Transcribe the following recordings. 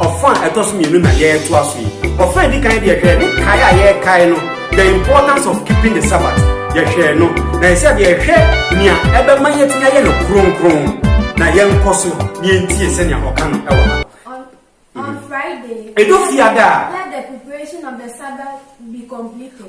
Ɔfã a ɛtɔ so mmienu na yɛretoa so yi. Ɔfã a edi kan deɛ hwɛ ne kae a yɛrekae no, the importance of keeping the Sabbath. Yɛhwɛɛ no, na ɛsɛ sɛ deɛ yɛhwɛ nea ɛbɛma yɛatumi ayɛ no kronkron, na yɛnkɔ so na yɛntie sɛnea ɔka no wɔ ha. Edu Fiada a,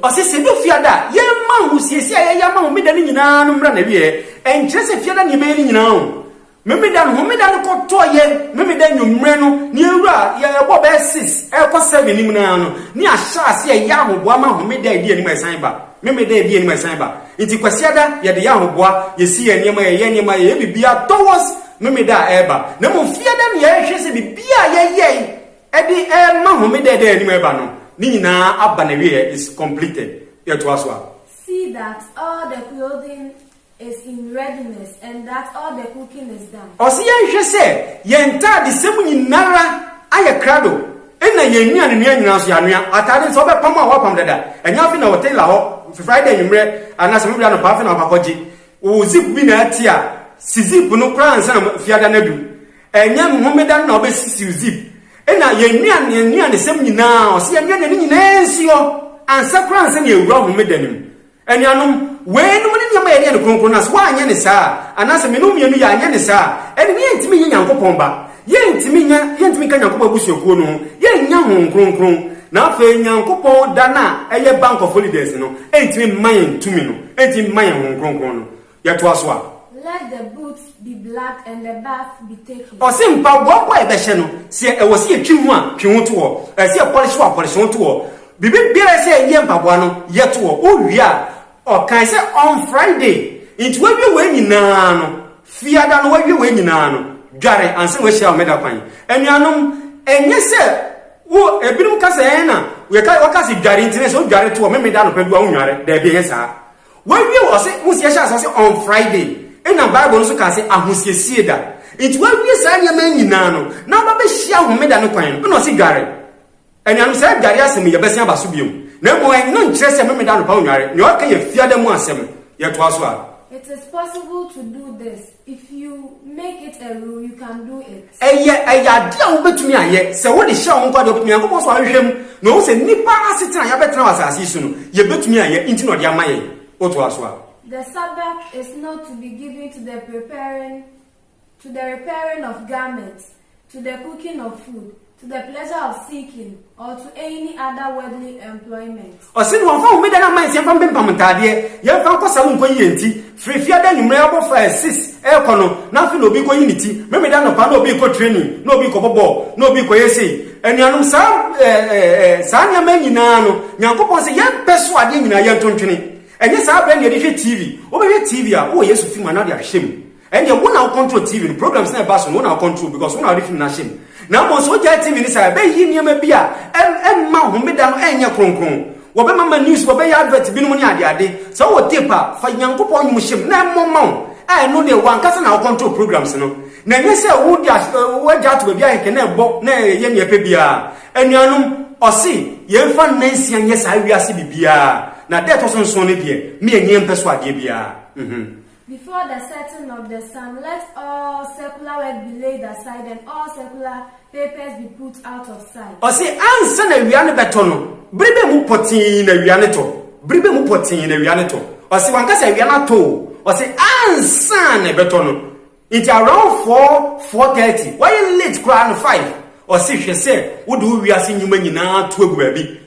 ɔse sɛ edu Fiada a, yɛmma ahosiesie a yɛyɛ ama Homeda no nyinaa no mmra n'awieɛ. Ɛnkyerɛ sɛ Fiada na yɛbɛyɛ ne nyinaa o. Memeda no homeda no kɔtɔɔ yɛn memeda nwummerɛ no ne yɛn wura yɛbɔ bɛyɛ six ɛkɔ seven no mu no ara no ne ahyɛ aseɛ ɛyɛ ahoboa ma homeda a ɛdi anim a ɛsan ba memeda a ɛdi anim a ɛsan ba nti kwasiada yɛde yɛ ahoboa yɛsi yɛn nneɛma yɛyɛ nneɛma yɛyɛ biribiara towards memeda a ɛreba na mmom fiada no yɛhwɛ sɛ biribiara a yɛyɛe ɛde ɛrema homeda a ɛda yɛn anim a ɛba no ne nyinaa aba n'awieɛ is completed yɛtoa so a. See that all the clothing is in readiness and that all the cooking is done. Ɔse yɛnhwɛ sɛ yɛn ntaade sɛ mu nyinara ayɛ krado ɛna yɛn nnuane noa nyinaa nso yɛanoa. Ataade nso ɔbɛpam a wapam dada. Ɛnyɛ afei na wɔ tailor hɔ Friday anwummerɛ anaa sɛ Mebre anɔpa afei na wakɔ akɔgye. Wo zip bi na ati a, si zip no koraa ansa na Fiada no adu. Ɛnyɛ Homeda no na wobɛsisi wo zip. Ɛna yɛn nnuane yɛn nnuane sɛm nyinaa ɔse yɛnoa nnuane nyinaa nsuo ansa koraa ansa na yɛawura Homeda no mu. Anuanom, weinom ne nneɛma a yɛde yɛ no kronkron, na sɛ woanyɛ no saa a, anaasɛ me ne wo mmienu yɛanyɛ no saa a, ɛnde na yɛrentumi nyɛ Nyankopɔn mma. Yɛrentumi nyɛ, yɛrentumi nka Nyankopɔn abusuakuo no ho, yɛrennya Honhom Kronkron, na afei Nyankopɔn da no a ɛyɛ Bank of Holidays no, ɛrentumi mma yɛn tumi no, ɛrentumi mma yɛn Honhom Kronkron no. Yɛtoa so a. Let the boots be blacked and the bath be taken. Ɔse mpaboa bɔ a yɛbɛhyɛ no, sɛ ɛwɔ sɛ yɛtwi ho a, twi ho to hɔ. Ɛsɛ sɛ yɛpɔlehye hɔ a, pɔlehye ho to hɔ. Biribi biara a ɛsɛ sɛ yɛyɛ mpaboa no, yɛ to hɔ. Wowie a, ɔkae sɛ on Friday nti woawie wei nyinaa no, Fiada no woawie wei nyinaa no, dware ansa na woahyia Homeda kwan. Anuanom, ɛnyɛ sɛ wo, ebinom ka sɛ ɛɛ na, wɔka sɛ dware nti na ɛsɛ sɛ wodware to hɔ, Memeda anɔpa du a wonnware. Daabi, ɛnyɛ saa. Wawie wɔ ɔse wosi ɛhyɛ ase ɔse on Friday ɛna bible no so kaa se ahosiesie da nti wawie saa nneɛma nyinaa no na aba bɛhyia homeda no kwan no ɛna ɔse dware anuanom saa dware asɛm yi yɛbɛsen aba so biom na mmom ɛno nkyerɛ sɛ memeda anɔpa wonware nea ɔka yɛ fiada mu asɛm yɛtoa so a. It is possible to do this. If you make it a rule, you can do it. Ɛyɛ ɛyɛ adeɛ a wobɛtumi ayɛ sɛ wode hyɛ wo nkwa deɛ wobɛtumi Nyankopɔn so ahwehwɛ mu na ɔhu sɛ nnipa asetena a yɛabɛtena wɔ asase yi so no yɛbɛtumi ayɛ nti na ɔde ama yɛn wotoa so a. The Sabbath is not to be given to the preparing to the repairing of garments to the cooking of food, to the pleasure of seeking, or to any other worldly employment. Ɔse na wɔmfa homeda no amansi mfa mpempam ntaadeɛ, yɛmfa nkɔ sa mu nkɔyi yɛn ti, firi fiada anwummerɛ abɔfra a ɛsis ɛrekɔ no, na afei na obi rekɔyi ne ti, Memeneda anɔpa na obi rekɔ training, na obi rekɔbɔ bɔɔl, na obi rekɔyɛ sei. Anuanom, saa, ɛɛ, ɛɛ, saa nneɛma nyinaa no, Nyankopɔn se yɛmpɛ so adeɛ nyinaa, yɛntontwene. Ɛnyɛ saa berɛ na yɛde hwɛ TV. Wobɛhwɛ TV a, wowɔ Yesu fi mu anaa wode ahwehwɛ mu? Ɛnneɛ wo na wo control TV no, programs na ɛba so no wo na wo control because wo na wode film no ahyɛ mu. Na mmom sɛ wogyae TV no saa a, ɛbɛyi nneɛma bi a ɛmma homeda no ɛnyɛ kronkron. Wɔbɛma ma news, wɔbɛyɛ advert binom ne adeade. Sɛ wowɔ tape a, fa Nyankopɔn nnwom hyɛ mu na ɛmmɔ mma wo a ɛno deɛ w'ankasa na wo control programs no. Na ɛnyɛ sɛ wode w'agya ato baabi a kɛkɛ na ɛbɔ na ɛyɛ nea ɛpɛ biara. Anuanom, ɔse yɛmfa nna nsia nyɛ saa wiase biribiara, na da a ɛtɔ so nson no deɛ, me ani mpɛ so adeɛ biara. Before the setting of the sun, let all secular work be laid aside and all secular papers be put out of sight. Ɔse ansa na awia no bɛtɔ no, bere bɛ mu pɔtee na awia no tɔ, bere bɛ mu pɔtee na awia no tɔ. Ɔse wanka sɛ awia no atɔ o, ɔse ansa na ɛbɛtɔ no. Nti around four, four thirty, wayɛ late koraa no five, ɔse hwɛ sɛ wode wo wiase nnwuma nyinaa to agu baabi.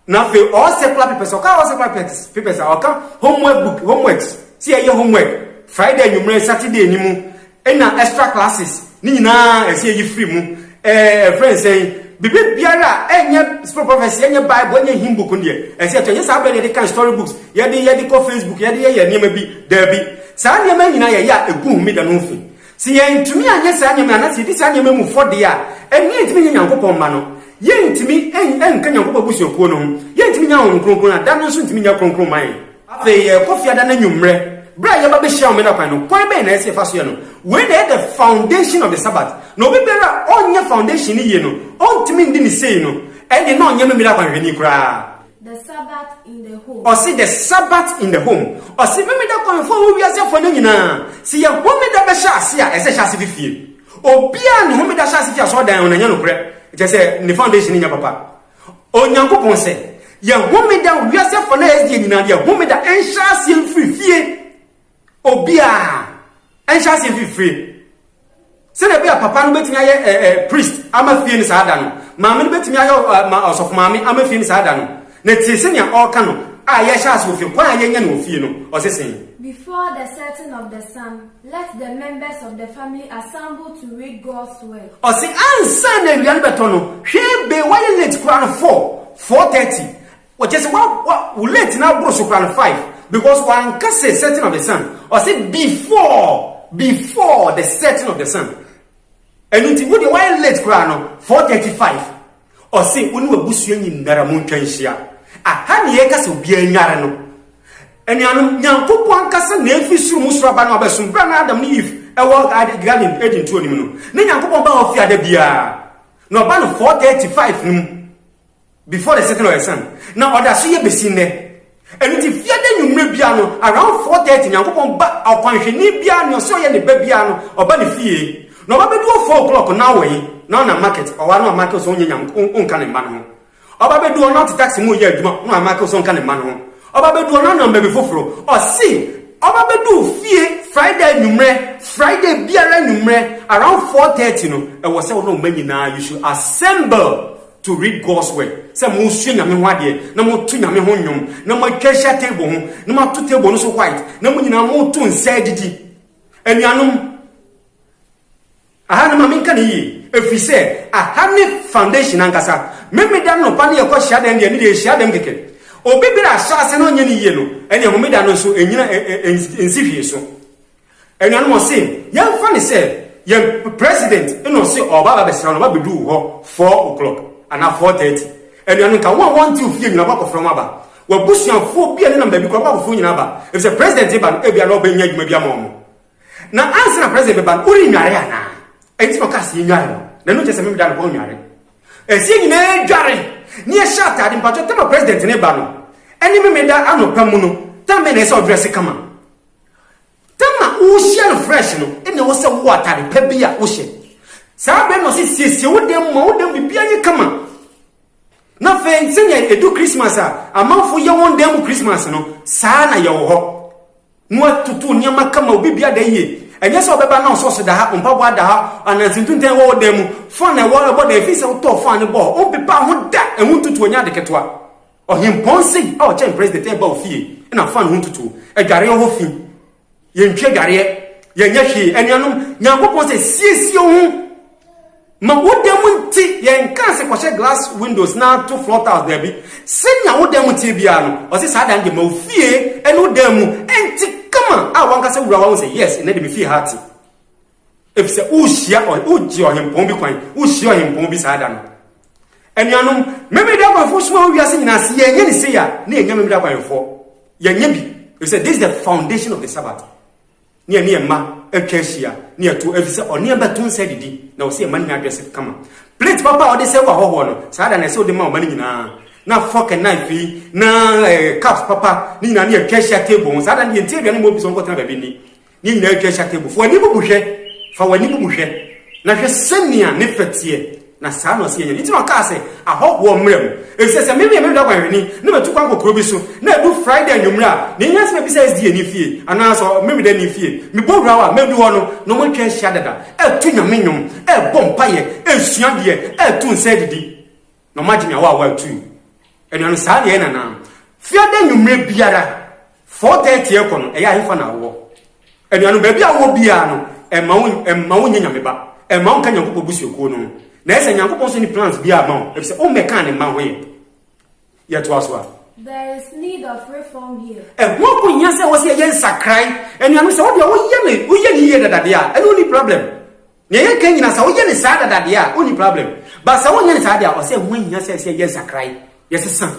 na afei all secular papers ɔka all secular papers papers a ɔka homework book homeworks ti ɛyɛ homework friday anwummerɛ saturday ni mu ɛna extra classes ne nyinaa ɛsɛ ɛyi firi mu ɛɛ ɛfrɛ nsɛn bibi biara ɛnyɛ spirit prophecy ɛnyɛ bible ɛnyɛ hymn book deɛ ɛsɛ ɛtɔ ɛnyɛ saa bɛrɛ yɛde kan story books yɛde yɛde kɔ facebook yɛde yɛyɛ nneɛma bi daabi saa nneɛma nyinaa yɛyɛ a ɛgu homeda no ho fi Sɛ yɛantumi anyɛ saa nneɛma yi anaasɛ yɛdi saa nneɛma yi mu fɔ deɛ a, ɛnneɛ yɛntumi nyɛ Nyankopɔn mma no. Yɛntumi nka Nyankopɔn abusuakuo no ho. Yɛntumi nya Honhom Kronkron a da no nso ntumi nyɛ kronkron mma yɛn. Afei yɛrekɔ fiada no anwummerɛ, berɛ a yɛba bɛhyia Homeda kwan no, kwan bɛn na ɛsɛ sɛ yɛfa so yɛ no? Wei na ɛyɛ the foundation of the Sabbath. Na obi biara a ɔnyɛ foundation no yie no, ɔntumi ndi no sei no, ɛnneɛ na ɔnyɛ Memeneda kwanhwɛni koraa. The Sabbath in the Home. Ɔse The Sabbath in the Home. Ɔse Homeda kwan fo a ɛwɔ wiase afa no nyinaa, sɛ yɛ Homeda bɛhyɛ ase a, ɛsɛ hyɛ ase fi fie. Obiara ne Homeda hyɛ ase fi asɔrdan ho na ɛnyɛ nokorɛ, kyerɛ sɛ ne foundation nyɛ papa. Onyankopɔn sɛ yɛ Homeda wiase afa no a ɛyɛ deɛ nyinaa no yɛ Homeda ɛnhyɛ aseɛ mfiri fie. Obiara nhyɛ aseɛ mfiri fie. Sɛdeɛ ɛbɛyɛ a papa no bɛtumi ayɛ ɛ eh, ɛ eh, priest ama fie no saa da no. Maame no bɛtumi ayɛ ɔ, ma, ɔsɔfo maame ama fie no saa da no. Na tie sɛnea ɔreka no a yɛhyɛ ase wɔ fie, kwan a yɛnya no wɔ fie no. Ɔse sɛn? Before the setting of the sun, let the members of the family assemble to read God's word. Ɔse ansa na awia no bɛtɔ no, hwɛ be wayɛ late koraa no four, four thirty, Ɔkyerɛ sɛ wa wa wo late na aboro so koraa no five because wanka sɛ setting of the sun ɔsɛ before before the setting of the sun ɛnu nti wo deɛ wayɛ late koraa no four thirty five ɔsɛ wo ne wabusua nyinara mo ntwa nhyia aha ne yɛka sɛ obiara nyare no anuanom nyankopɔn ankasa na efi soro mu soro aba no abɛsom bra na adam ne eve ɛwɔ garden eden tuo nim no ne nyankopɔn ba hɔ fi ada biara na ɔba no four thirty five no mu Before the setting of the sun, na ɔda so yɛ besi nnɛ. Ɛno nti, Fiada anwummere biara no, around four thirty, Nyankopɔn ba ɔkwanhwɛni biara, nea ɔse ɔyɛ ne ba biara no, ɔba ne fie, na ɔba bɛdu hɔ four o'clock, na ɔwɔ yi, na ɔnam market, ɔwɔ ano amake wo sɛ ɔnyɛ Nyame, ɔnka ne mma no ho. Ɔba bɛdu hɔ, na ɔte taxi mu reyɛ adwuma, na wamake wo sɛ ɔnka ne mma no ho. Ɔba bɛdu hɔ, na ɔnam baabi foforo, ɔse ɔba bɛdu wo fie Friday anwummere, Friday biara anwummere, around four thirty no, ɛwɔ sɛ wo ne wo mma nyinaa, you should assemble. to read God's word, sɛ mosua Nyame ho adeɛ, na moto Nyame ho nnwom, na moatwa ahyia table ho, na moato table no so white, na mo nyinaa moto nsa adidi. Anuanom, aha no ma menka ne yie, ɛfiri sɛ aha ne foundation ankasa. Memeda no nɔpa no yɛkɔ hyiadɛm deɛ, ne deɛ hyiadɛm kɛkɛ. Obi berɛ a ahyɛ ase na ɔnyɛ ne yie no, ɛneɛ homeda no nso ɛnyina ɛnsi hwee so. Anuanom ɔse yɛmfa no sɛ yɛn president na ɔse ɔɔba abɛsra no wabɛdu wo hɔ four o clock anaa four thirty anuanom nka wɔn a wɔnte wo fie nyinaa wakɔfrɛ wɔn aba wabusuafoɔ bi a nenam baabi koraa wakɔfrɛ wɔn nyinaa aba efisɛ president reba no ebia na ɔbɛnya adwuma bi ama wɔn na ansa na president bɛba no worennware anaa ɛnti na ɔkaa sɛ yɛnware no na ɛno nkyɛ sɛ memeda no kɔ nware ɛsɛ nyinaa dware ne yɛhyɛ ataade mpatwɔ tama president ne ba no ɛne memeda anɔpa mu no tama na ɛsɛ ɔdrɛse kama Da no a worehyia no fresh no, na ɛwɔ sɛ wowɔ atade pa bi a wohyɛ. Saa bere no ɔse siesie wo dan mu ma wo dan biribiara yɛ kama. Na afei sɛnea edu Christmas a amanfo yɛ wɔn dan mu Christmas no, saa na yɛwɔ hɔ. Na watoto nneɛma kama, obi bia da yie. Ɛnyɛ sɛ ɔbɛba na ɔsɔs da ha, mpaboa da ha, ananse ntuntan wɔ wo dan mu, fan na ɛwɔ ɛbɔ dan, efi sɛ wotɔɔ fan no bɔɔ hɔ, wompepa ho da, ɛho ntutuo nyɛ ade ketewa. Ɔhempɔn Sing a ɔkyɛn President reba wo fie na fan ho ntutuo. Adwareɛ hɔ fi. Yɛntwi adwareɛ. Yɛnyɛ hwee. Anuanom, Nyankopɔn sɛ siesie wo ho ma wo dan mu nti yɛnkaa sɛ kɔhyɛ glass windows na to floor tiles daabi. Sɛnea wo dan mu teɛ biara no, ɔse saa dan deɛ ma wo fie ne wo dan mu nte kama a wankasa wura wahu sɛ yes nnɛ deɛ me fie ha ate. Efisɛ worehyia ɔhe, woregye ɔhempɔn bi kwan, worehyia ɔhempɔn bi saa da no. Anuanom, Memeneda akwanfoɔ soma wɔ wiase nyinaa, se yɛnyɛ ne sei a, na yɛnyɛ Memeneda akwanfoɔ. Yɛnyɛ bi, efisɛ this is the foundation of the Sabbath. Ne yɛne yɛn mma atwa ahyia, ne yɛto, efisɛ ɔneɛba to nsa adidi, na ɔse yɛn mma no nya adrɛse kama. Plate papa a ɔde sɛe wɔ ahɔhoɔ no, saa da no ɛsɛ ɔde ma ɔma no nyinaa. Na fork and knife yi, na eh, cups papa, ne nyinaa ne yɛatwa ahyia table ho, saa da no yɛnti aduane ma obi sɛ ɔnkɔtena baabi nni. Ne nyinaa atwa ahyia table. Fa w'ani bubu hwɛ. Fa w'ani bubu hwɛ, na hwɛ sɛnea ne fɛ teɛ, na saa na ɔse yɛnyɛ. Enti na ɔkaa sɛ, Ahɔhoɔ mmra mu. Efisɛ sɛ me meyɛ me wura guanhwɛni, na matu kwan kɔ kuro bi so, na ɛdu Friday anwummere a, nea ehia sɛ mebisa SDA ni fie, anaa sɛ Ɔmemeda ni fie. Mebɔ wura hɔ a, madu hɔ no, na wɔatwa ahyia dada, reto Nyame nnwom, rebɔ mpaeɛ, resua adeɛ, reto nsa adidi. Na ɔma Jimmy awa awa tui. Ɛnua no saa deɛ nana. Fiada nwummerɛ biara 4:30 ɛkɔ no ɛyɛ ahefa na awɔ. Ɛnua no baabi awɔ biara no ɛma wo ɛma wo nyɛ nyame ba. Ɛma wo nka nyankopɔ busuakuo no ho. Na ɛsɛ nyankopɔ nso ni plans biara ma wo. Ɛfisɛ wo mmɛkaa ne mma ho yɛ. Yɛ toa so a. There is need of reform here. Ɛho akohia sɛ wɔ sɛ yɛyɛ nsakrae. Ɛnua no sɛ wo deɛ wo yɛ ne wo yɛ ne yie dada deɛ a ɛne wo ni problem. Nea yɛka nyinaa sɛ woyɛ no saa dada deɛ a wonni problem but sɛ wonyɛ no saa deɛ a ɔsɛ ɛho ahia sɛ sɛ yɛ nsakrae yɛsesa ho.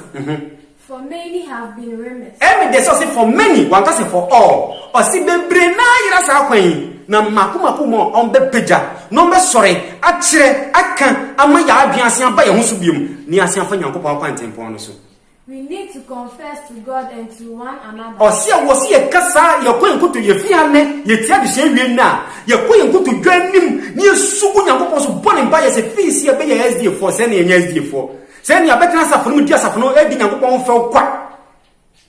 For many have been remiss. Ɛmi deɛ sɛ ɔse for many wanka sɛ for all ɔse bebree na ayera saa kwan yi na mako mako mu a wɔn bɛ pagya na wɔn bɛ sɔre akyerɛ aka ama yɛ adwene asen aba yɛ ho so biom na yɛ asen afa Nyankopɔn akwantempɔn no so We need to confess to God and to one another. Ɔsi a wɔsi yɛ kasa yɛ kɔ yɛn koto yɛ fi anɛ yɛ ti adesua wie nna yɛ kɔ yɛn koto dwa anim ne yɛ su gu nyankopɔn so bɔ ne mpa yɛ sɛ fii si yɛ bɛ yɛ SDA foɔ sɛ ne yɛ nyɛ SDA foɔ sɛ ne yɛ abɛtena asafo no mu di asafo no adi nyankopɔn ho fɛw kwa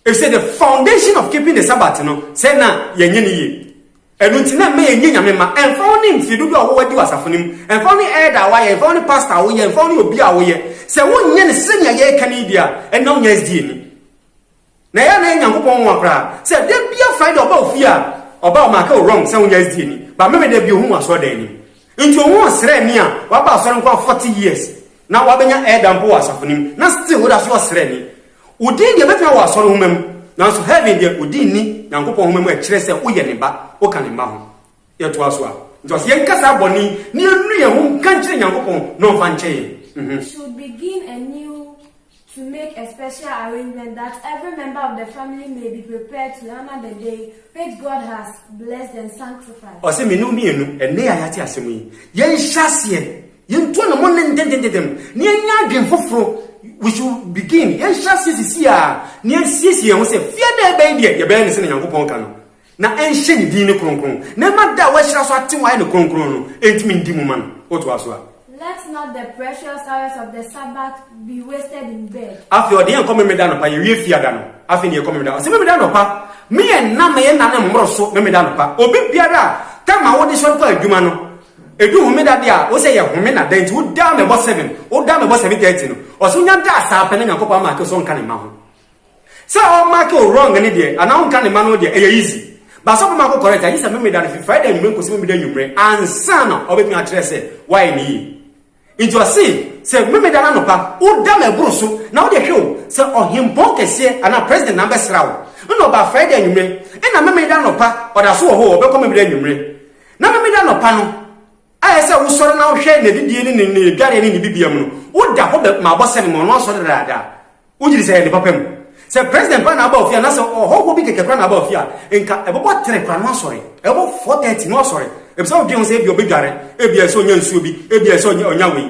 efisɛ the foundation of keeping the sabbath no sɛ na yɛ nyɛ ne yie. Ɛno nti na ɛmma yɛnyɛ Nyame mma. Ɛmfa wo ne mfie dodoɔ a wowɔ adi wɔ asafo no mu, ɛmfa wo ne elder a woayɛ, ɛmfa wo ne pastor a woyɛ, ɛmfa wo ne obi a woyɛ, sɛ wonyɛ no sɛnea yɛreka no yi deɛ a, ɛnna wonyɛ SDA ni. Na ɛyɛ a na ɛyɛ Nyankopɔn nwanwa koraa sɛ da biara Friday ɔba wo fie a, ɔba ɔmarke wo wrong sɛ wonyɛ SDA ni, but Memeneda bi ohuu wo asɔredan anim. Nti ohuu ɔsraani a waba asɔre nko ara 40 years, na wabɛnya elder mpo wɔ asafo no mu, na still woda so yɛ ɔsraani. Wodii nea ɛbɛtena wɔ asɔre nhoma mu, nanso Hervin deɛ, odi nni Nyankopɔn Nwoma mu a ɛkyerɛ sɛ woyɛ ne ba, woka ne mma ho. Yɛtoa so a, nti ɔse yɛnka saa bɔne yi na yɛnnu yɛn ho nka nkyerɛ Nyankopɔn na ɔmfa nkyɛ yɛn. We should begin anew to make a special arrangement that every member of the family may be prepared to honor the day which God has blessed and sanctified. Ɔse, Me ne wo mmienu, ɛnnɛ yi a yɛate asɛm yi, yɛnhyɛ aseɛ Yɛntu anamɔ nnɛ ntɛntɛntɛm na yɛnyɛ adwene foforo. We should begin, yɛnhyɛ aseɛ sisi ara na yɛnsiesie yɛn ho sɛ fie da ɛbɛn deɛ yɛbɛyɛ no sɛdeɛ Nyankopɔn ka no, na ɛnhyɛ Ne din no kronkron, na ɛma da a wɔahyira so atew ayɛ no kronkron no ntumi ndi mu ma no. Wotoa so a. Let not the precious hours of the Sabbath be wasted in bed. Afei ɔde yɛn kɔ Memeneda anɔpa, yɛwie Fiada no, afei na yɛkɔ Memeneda. Ɔse Memeneda anɔpa, meyɛ nna meyɛ nna no mmoro so Memeneda anɔpa. Obi biara a, time a wode sɔre kɔ adwuma no, Edu homeda de a, wose yɛ home na dɛn nti wodaa me bɔ seven, wodaa me bɔ seven thirty no? Ɔse wonya da saa pɛ na Nyankopɔn amake wo sɛ ɔnka ne mma ho. Sɛ ɔmake wo wrong no deɛ anaa ɔnka ne mma no ho deɛ ɛyɛ easy. But sɛ ɔbɛma akɔ correct a gyesɛ Memeda no fi Friday anwumerɛ nkosi Memeda anwumerɛ ansa na ɔbɛtumi akyerɛ sɛ woayɛ no yie. Enti ɔsee, Sɛ Memeneda anɔpa woda m'aburu so na wode hwe wo, sɛ ɔhempɔn kɛseɛ anaa president na abɛsra wo, nna ɔba Friday anwumerɛ, nna Memeneda anɔpa ɔda so wɔ hɔ o, ɔbɛkɔ Memeneda anwumerɛ. Na Memeneda anɔpa no, a ɛyɛ sɛ wosɔre na wohwɛ n'adidie ne ne ne dwareɛ ne ne bibia mu no, woda hɔ bɛ ma abɔsɛm ma ɔno asɔre dadaada. Wogye di sɛ ɛyɛ ne papa mu? Sɛ president koraa na aba ofie anaasɛ ɔhɔhoɔ bi kɛkɛ koraa na aba ofie a, nka ɛbɛbɔ three koraa na wasɔre. Ɛbɛbɔ four thirty na wasɔre. Ebisa wodwen ho sɛ ebia ɔbɛdware, ebia ɛsɛ ɔnya nsuo bi, ebia ɛsɛ ɔnya ɔnya wei.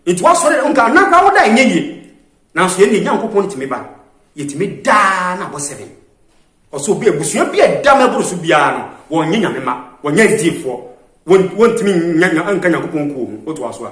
Nti wasɔre nka nna koraa woda ɛnyɛ yie. Nanso yɛn deɛ Nyankopɔn no tumi ba, yɛtumi da ara na abɔ seven. Ɔsɛ obi abusua bi a ɛda ma ɛboro so biara no wɔnyɛ Nyame ma, wɔnyɛ asdiefoɔ, wɔntumi nka Nyankopɔn kuo ho. Wotoa so a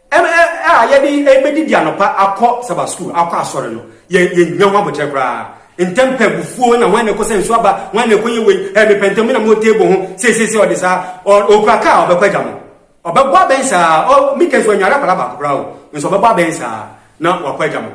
Ɛna a yɛde rebedidi anɔpa akɔ Saba Sukuu akɔ asɔre no, yɛn yɛn nya ho abokyerɛ koraa. Ntɛm pɛ, abufuo, na hwan na ɛkɔsa nsuo aba, hwan na ɛkɔyɛ wei, ɛɛ mepɛ ntɛm, me na mewɔ table ho, sei sei sei, ɔde saa, ɔ ɔkura kaa a, ɔbɛkɔ agya mo. Ɔbɛbɔ abɛn saa, ɔ Mika nso wanyare akwadaa baako koraa o, nso ɔbɛbɔ abɛn saa na wakɔ agya mo.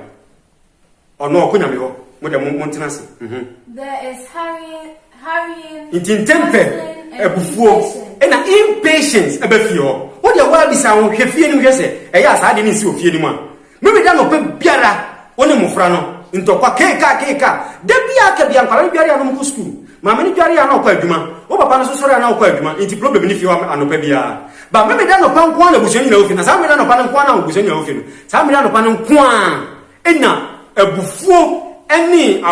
Ɔno a ɔkɔ Nyame hɔ. Mo dɛ mo montena ase. Mhm. There is hurrying, hurrying, Nti ntɛmpɛ, hustling, and abufuo, impatience. ɛna impatience ɛba fie hɔ. Wo deɛ woaa bisa wo ho, hwɛ fie no mu hwɛ sɛ ɛyɛ a saa adeɛ no nsi wɔ fie no mu a. Mary da nɔpa biara wo ne mmofra no ntɔkwa keekaa keekaa. Da biara ka bi a nkwadaa no dware a na wɔkɔ sukuu, maame no dware a na ɔkɔ adwuma, wo papa no nso sɔre a na ɔkɔ adwuma nti problem no fi hɔ anɔpa biara. But Mary da nɔpa nko ara na abusua nyinaa wɔ fie no, na saa Mary da nɔpa no nko ara na abusua nyinaa wɔ fie no. Saa mmere anɔpa no nko ara na abufuo ne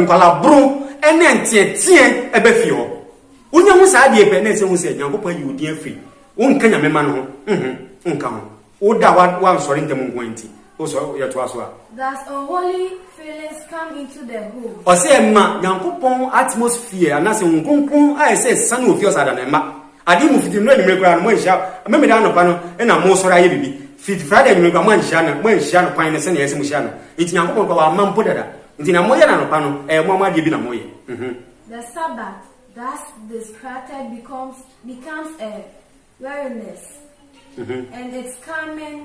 nkwalaboro ne nteɛteɛ ba fie hɔ. Wonya hu saa adeɛ pɛ na ɛsɛ hu sɛ Nyankopɔn ayi wo din afiri wonka Nyame ma no ho ho nka ho. Wo da a woansɔre ntɛm nko ara nti, wosɔre yɛtoa so a. Thus unholy feelings come into the home. Ɔsɛ ɛma Nyankopɔn atmosphere anaasɛ Honhom Kronkron a ɛsɛ ɛsane wɔ fie ɔsɛ ada na ɛmma. Ade mu fiti nnura anwummere koraa no moanhyia, Memeneda anɔpa no na mosɔre ayɛ biribi. Fiti Friday anwummere koraa moanhyia no, moanhyia no kwan no sɛnea ɛsɛ mohyia no. Enti Nyankopɔn koraa wamma mpo dada. Enti nea moyɛ no anɔpa no, ɛyɛ moa mo adeɛ bi na moyɛ. Mhmm. The Sabbath thus discredited becomes becomes a weariness, and its coming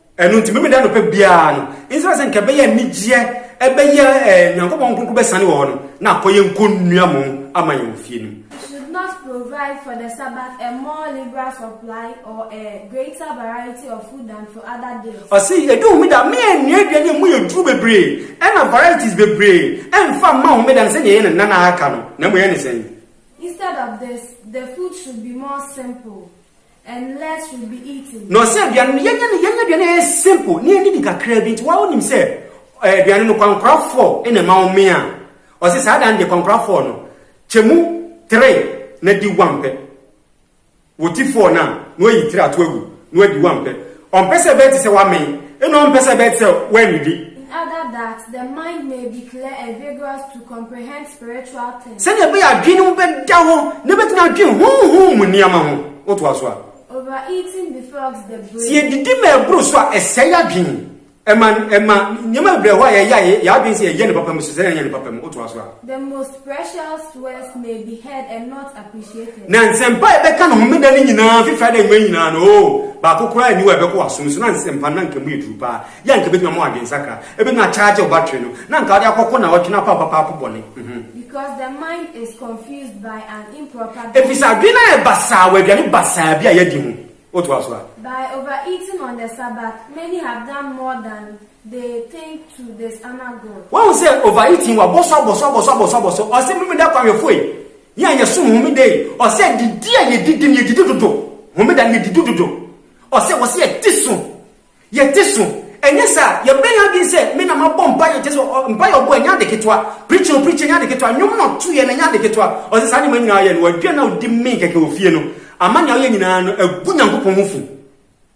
Ɛno nti, Memeneda anɔpa biara no, nsra sɛ nka ɛbɛyɛ anigyeɛ, ɛbɛyɛ eh, Nyankopɔn Kronkron bɛsane wɔ hɔ no, na akɔ yɛn nkɔ nnua mo ama yɛn wɔ fie no mu. He should not provide for the Sabbath a more liberal supply or a greater variety of food than for other days. Ɔse, ɛdu homeda, me ɛnnua aduane a mu yɛ duru bebree, ɛna varieties bebree, ɛmfa mma homeda no sɛdeɛ ɛyɛ ne nna aka no, na mmom ɛyɛ ne sɛn? Instead of this, the food should be more simple. And less will be eaten. Na ɔsɛ aduane no yɛnyɛ no yɛnyɛ aduane a ɛyɛ simple ne yɛdidi kakra bi nti wɔn nim sɛ eh, aduane no kwankorafoɔ na ɛma wɔn a ɔsɛ saa dan deɛ kwankorafoɔ no kyɛ mu tere na di wampɛ wɔti foɔ no a na wayi tiri ato agu na wadi wampɛ Ɔmpɛ sɛ ɛbɛyɛ te sɛ woamee, ɛnna ɔmpɛ sɛ ɛbɛyɛ te sɛ woannidi. In other that the mind may be clear and vigorous to comprehend spiritual things. Sɛnea ɛbɛyɛ a adwene no bɛda hɔ na ebetumi adwen honhom mu nneɛma ho. Wotoa so a. Overeating befogs the brain. Sɛ yedidi ma ɛboro so a, ɛsɛe adwene. Ɛma ɛma nneɛma bebree hɔ a yɛyɛ a yɛ- yɛn adwene sɛ yɛyɛ no papa mu so sɛ yɛnyɛ no papa mu. Wotoa so a. The most precious words may be heard and not appreciated. Na nsɛmpa a yɛbɛka no homeda no nyinaa fi Friday anwummerɛ nyinaa no, oo, baako koraa nni hɔ a ɛbɛkɔ w'asom so na nsɛmpa no na anka emu yɛ duru paa. Yɛ anka ɛbɛtumi ama w'adwensakra. Ɛbɛtumi akyagye wo battery no, na anka wode akɔko nnawɔtwe no apaapo apaapo bɔne. Mhm. Because the mind is confused by an improper Ɛfiri sɛ diet. adwene no ayɛ basaa wɔ aduane basaa bi a yɛadi ho. O toa so a. By overeating on the Sabbath, many have done more than they think to dishonor God. Wahu sɛ overeating wa bɔsɔ abɔsɔ abɔsɔ abɔsɔ abɔsɔ ɔsɛ mimi da kwamyɛfo yi yɛ a yɛsom homeda yi ɔsɛ didi a yɛdidi no yɛdidi dodo homeda no yɛdidi dodo ɔsɛ wɔsɛ yɛte so Yɛ te so. Ɛnyɛ saa a, yɛbrɛ yɛn adwene sɛ, me na mabɔ mpaeɛ, kyerɛ sɛ, ɔ, mpaeɛ ɔbɔɛ, ɛnyɛ ade ketewa. Preaching ɔ preachie, ɛnyɛ ade ketewa. Nnwom no a ɔtoeɛ no, ɛnyɛ ade ketewa. Ɔse, saa nneɛma nyinaa ɔyɛ no, wadwira no a ɔde mee kɛkɛ wɔ fie no, ama nea ɔyɛ nyinaa no, agu Nyankopɔn ho fi.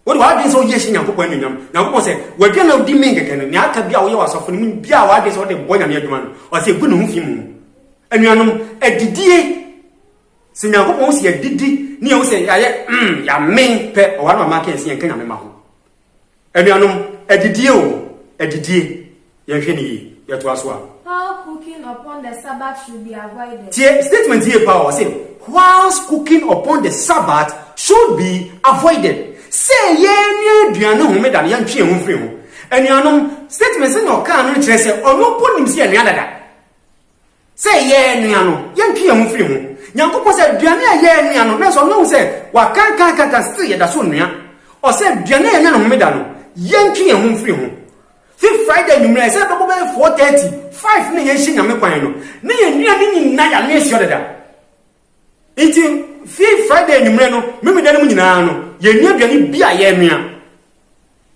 Wode w'adwene sɛ woyɛ hyɛ Nyankopɔn anuonyam. Nyankopɔn se, wadwira no a ɔde mee kɛkɛ no, nea aka biaa a woyɛ wɔ asɔfo no mu no biaa a w'adwene sɛ wode bɔ Nyame adwuma no, ɔse, gu ne ho fi mu. Anuanom, adidie Sɛ Nyankopɔn hu sɛ yɛadidi ne yɛhu sɛ yɛayɛ mm, yɛamen pɛ, ɔware ma maaka yɛn sɛ yɛnka Nyame ma ho. Anuanom, adidie o, adidie, yɛnhwɛ no yie. Yɛtoa so a. While cooking upon the Sabbath should be avoided. Tie statement yie paa o, ɔse whilst cooking upon the Sabbath should be avoided. Sɛ yɛrenoa aduan no homeda no, yɛntwe yɛn ho mfiri ho. Anuanom, statement sɛnea ɔkaa no no kyerɛ sɛ ɔno mpo nim sɛ yɛnoa dada. Sɛ yɛɛnoa no, yɛntwe yɛn ho firi ho. Nyankopɔn sɛ aduane a yɛɛnoa no, nanso Ɔno hu sɛ wɔakankankankan, still yɛda so noa. Ɔsɛ aduane a yɛnya no Homeda no, yɛntwe yɛn ho mfiri ho. Fi Friday anwummerɛ, sɛ ɛbɛbɔ bɛyɛ 4:30, 5 na yɛnhyɛ Nyame kwan no, na yɛn nnuane nyinaa yɛanoa asua dada. Enti fi Friday anwummere no Memeneda no mu nyinaa no, yenni aduane bi a yɛrenoa.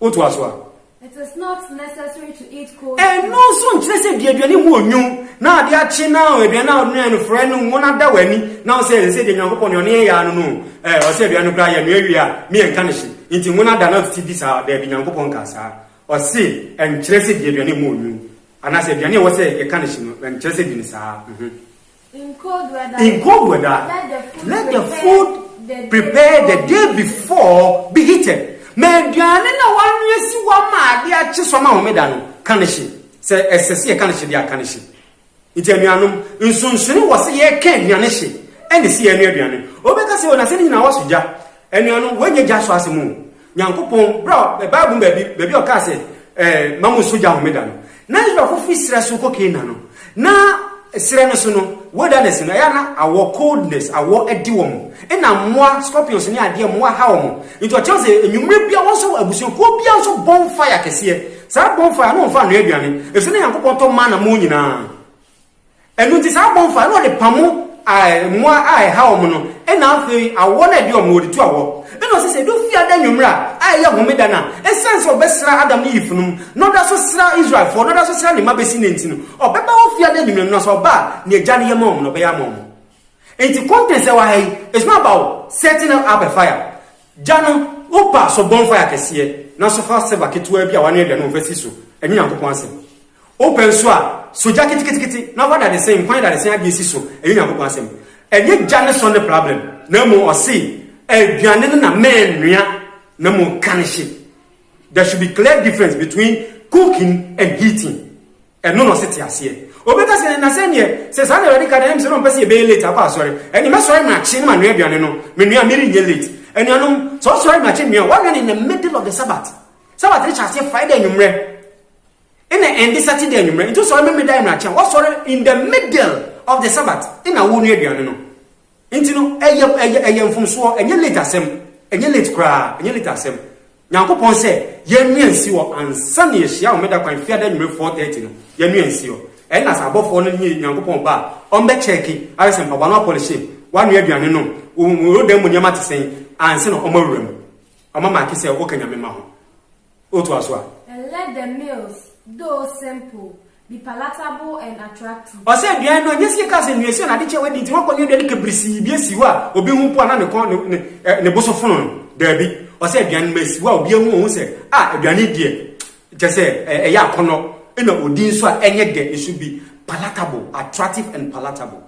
Wotoa so a. It is not necessary to eat cold food. Ɛno nso nkyerɛ sɛ di aduane mu onwo na ade akye na aduane no a wonoae no frɛ no ngo no ada w'ani na wo sɛ ɛsɛ sɛ deɛ Nyankopɔn deɛ ɔne yɛn yaa no no ɛ ɔsɛ aduane no koraa yɛnoa wie a ne yɛnka no hye nti ngo no ada na ɔtete di saa daabi Nyankopɔn nkaa saa ɔse ɛnkyerɛ sɛ di aduane mu onwo anaasɛ aduane a ɛwɔ sɛ yɛka no hye no ɛnkyerɛ sɛ di no saa. In cold weather, let the food prepared the day before be heated. Ma aduane na wɔanoa si hɔ ama ade akye so ama homeda no ka no hye, sɛ ɛsɛ sɛ yɛka no hye de aka no hye. Nti anuanom, nsonsonoe wɔ sɛ yɛka aduane hye ɛne sɛ yɛanoa aduane. Obi bɛka sɛ, o na sɛ ne nyinaa wɔsɔ gya. Anuanom, wɔnyɛ gya sɔ asɛm o. Nyankopɔn, berɛ a, ɛ, Bible mu baabi, baabi a ɔkaa sɛ, ɛ, Ma mo nso gya Homeda no. Na Israelfoɔ firi serɛ so kɔ Canaan no, na serɛ no so no, wilderness no, ɛyɛ a na awɔ, coldness, awɔ de wɔn. Ɛna mmoa, scorpions ne adeɛ, mmoa ha wɔn. Nti ɔkyerɛ sɛ, anwummerɛ biara, wɔn nso, abusuakuo biara nso bonfire kɛseɛ. Saa bonfire no, wɔmfa nnɔɛ aduane, ɛfiri sɛ na Nyankopɔn tɔ manna ma wɔn nyinaa. Ɛno nti saa abɔnfo a na wɔde pam mmoa a ɛha wɔn no na afei awɔ no a ɛde wɔn no wɔde tu awɔ. Ɛna ɔse sɛ ɛdu fiada anwummere a a ɛyɛ homeda no a, ɛsiane sɛ ɔbɛsra Adam ne Eve no mu na ɔda so sra Israelfoɔ na ɔda so sra ne mma bɛsi nnɛ nti no, ɔbɛba hɔ fiada anwummere no na sɛ ɔba a nea Agya no yɛ ma wɔn no ɔbɛyɛ ama wɔn. Enti contents a ɛwɔ ha yi is not about setting up a fire. Gya no, wo pɛ a so bonfire kɛseɛ na so fa silver ketewaa bi a wɔanoa aduane wɔ fa si so. Ɛnyɛ Nyankopɔn asɛm. Wopɛ nso a, so gya ketekete na fa dadesen, nkwan dadesen adeɛ si so, ɛyɛ Onyankopɔn asɛm. Ɛnyɛ gya ne sɔ ne prablɛm, na mmom ɔse aduane no na mɛnoa na mmom ka no hye. There should be clear difference between cooking and heating. Ɛno na ɔse te aseɛ. Obi ka sɛ, na sɛdeɛ, sɛ saa na Awurade ka deɛ, ɛyɛ me sɛ na ɔmpɛ sɛ yɛbɛyɛ late akɔ asɔre. Ɛnneɛ mɛsɔre makye na manoa aduane no, menoa a merenyɛ late. Anuanom, sɛ wosɔre makye noa a, woanoa no in the middle of the Sabbath. Sabbath no hyɛ aseɛ Friday anwummerɛ. Ena ɛnde Saturday anwummerɛ nti wosɔre Memeneda anwummerɛ akyɛ a woasɔre in the middle of the Sabbath ena wonoa aduane no nti no ɛyɛ ɛyɛ ɛyɛ mfomsoɔ ɛnyɛ late asɛm ɛnyɛ late koraa ɛnyɛ late asɛm Nyankopɔn sɛ yɛnwea nsi hɔ ansa na yɛhyia Homeda kwan Fiada anwummerɛ 4:30 no yɛnwea nsi hɔ ɛna sɛ abɔfoɔ no nye Nyankopɔn ba a ɔmbɛkyɛɛke ahwɛ sɛ mpaboa no apɔlehye woanoa aduane no wo wo dan mu nneɛma te sɛn ansa na ɔmawura mu ɔmamaake sɛ woka Nyame mma ho O toa so a. And let the meals, though simple, be palatable and attractive. Ɔsɛ aduan no, ɛnyɛ sɛ yɛka sɛ nnuasia na ade kyɛ wadi nti wɔakɔnwe aduane kabrisii bi asi hɔ a obi ho mpo a na ne kɔn ne ne, eh, ne bo so fono no. Daabi. Ɔsɛ aduan no ma asi hɔ a obi ahu ohu sɛ, a, aduane yi deɛ, kyɛ sɛ, eh, ɛyɛ akɔnnɔ, ɛna odi nso a ɛnyɛ dɛ, it should be palatable, attractive and palatable.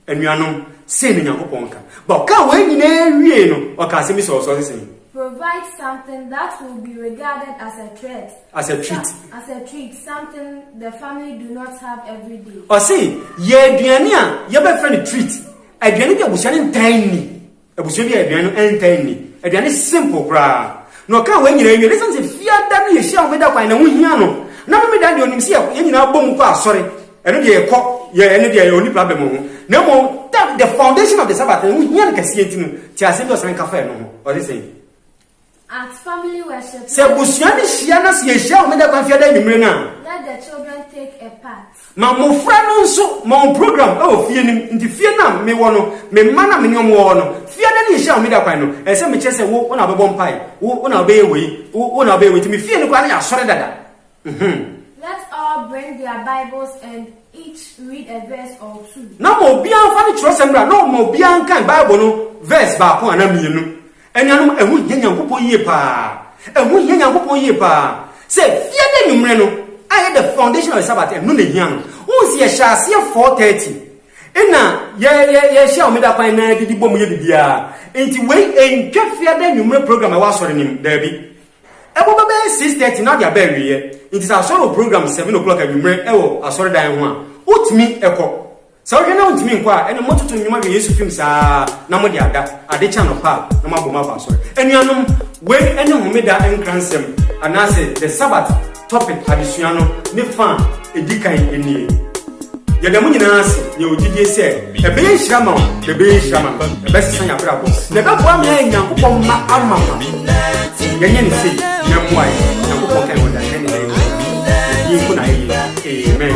Anuanom, sei ne Nyankopɔn nka. Ba ɔkaa wei nyinaa wiee no, ɔkaa asɛm bi sɛ ɔsɔre sɛn. Provide something that will be regarded as a threat. As a treat. As a treat, something the family do not have every day. Ɔse, yɛ aduane a yɛbɛfrɛ no treat, aduane bi a abusua no ntaa nni. Abusua bi a aduan no ɛntaa nni. Aduan no simple koraa. Na ɔkaa wei nyinaa wie no, ɛsiane sɛ Fiada no yɛhyia Homeda kwan na ɛho hia no, na Memedaa deɛ ɔnim sɛ yɛ yɛn nyinaa bɔ mu kɔ asɔre, ɛno deɛ yɛkɔ, yɛ ɛno deɛ ɔnni problem wɔ ho. Na mmom that the foundation of the Sabbath no ɛho hia no kɛseɛ nti no, te asɛm bi a ɔsan ka faa ɛno ho, ɔse sɛn? Sɛ abusua no hyia na sɛ yɛhyia Homeda kwan fiada anwummere no a, ma mmofra no nso ma wɔn program wɔ fie no mu. Nti fie no a mewɔ no, me mma no a me ne wɔn wɔ hɔ no, fiada ne yɛhyia Homeda kwan no, ɛsɛ sɛ mekyerɛ sɛ wo, wo na wobɛbɔ mpae, wo, wo na wobɛyɛ wei, wo, wo na wobɛyɛ wei. Nti me fie no koraa no yɛ asɔre dada. Mm-hmm. Na ma obiara mfa ne kyerɛwsɛm mmra na ɔma obiara nkan Bible no verse baako anaa mmienu. Anuanom, ɛho hia Nyankopɔn yie paa, ɛho hia Nyankopɔn yie paa sɛ fie da anwummerɛ no ayɛ the foundation of the Sabbath, ɛno na ɛhia no. Wohu sɛ yɛhyɛ aseɛ 4:30, ɛna yɛ, yɛ, yɛhyɛ Homeda kwan na yɛdidi bɔ mu yɛ biribiara. Enti wei ɛntwa fie da anwummerɛ program a ɛwɔ asɔre no mu, daabi. Ɛbɔ bɛbɛyɛ 6:30 na wode aba awieɛ. Enti sɛ asɔre wɔ program seven o'clock anwummerɛ wɔ asɔredan ho a, wotumi kɔ. Sɛ wohwɛ na wontumi nkɔ a, ɛnde mototo nnwom ahwɛ Yesu fim saa na mode ada. Ade kye anɔpa a, na moabom aba asɔre. Anuanom, wei ne Homeda nkransɛm anaasɛ The Sabbath Topic adesua no ne fã a edi kan nie. Yɛda mo nyinaa ase, yɛwɔ gyidie sɛ ɛbɛyɛ nhyira ma wo na ɛbɛyɛ nhyira ma me. Ɛbɛsesa yɛn abrabɔ na ɛbɛboa me ayɛ Nyankopɔn mma amamma. Yɛnyɛ no sei na ɛmmoa yɛn. Nyankopɔn ka yɛn wɔ dadwen nnɛ yi mu. Yɛn din nko na ayɛ yie. Amen.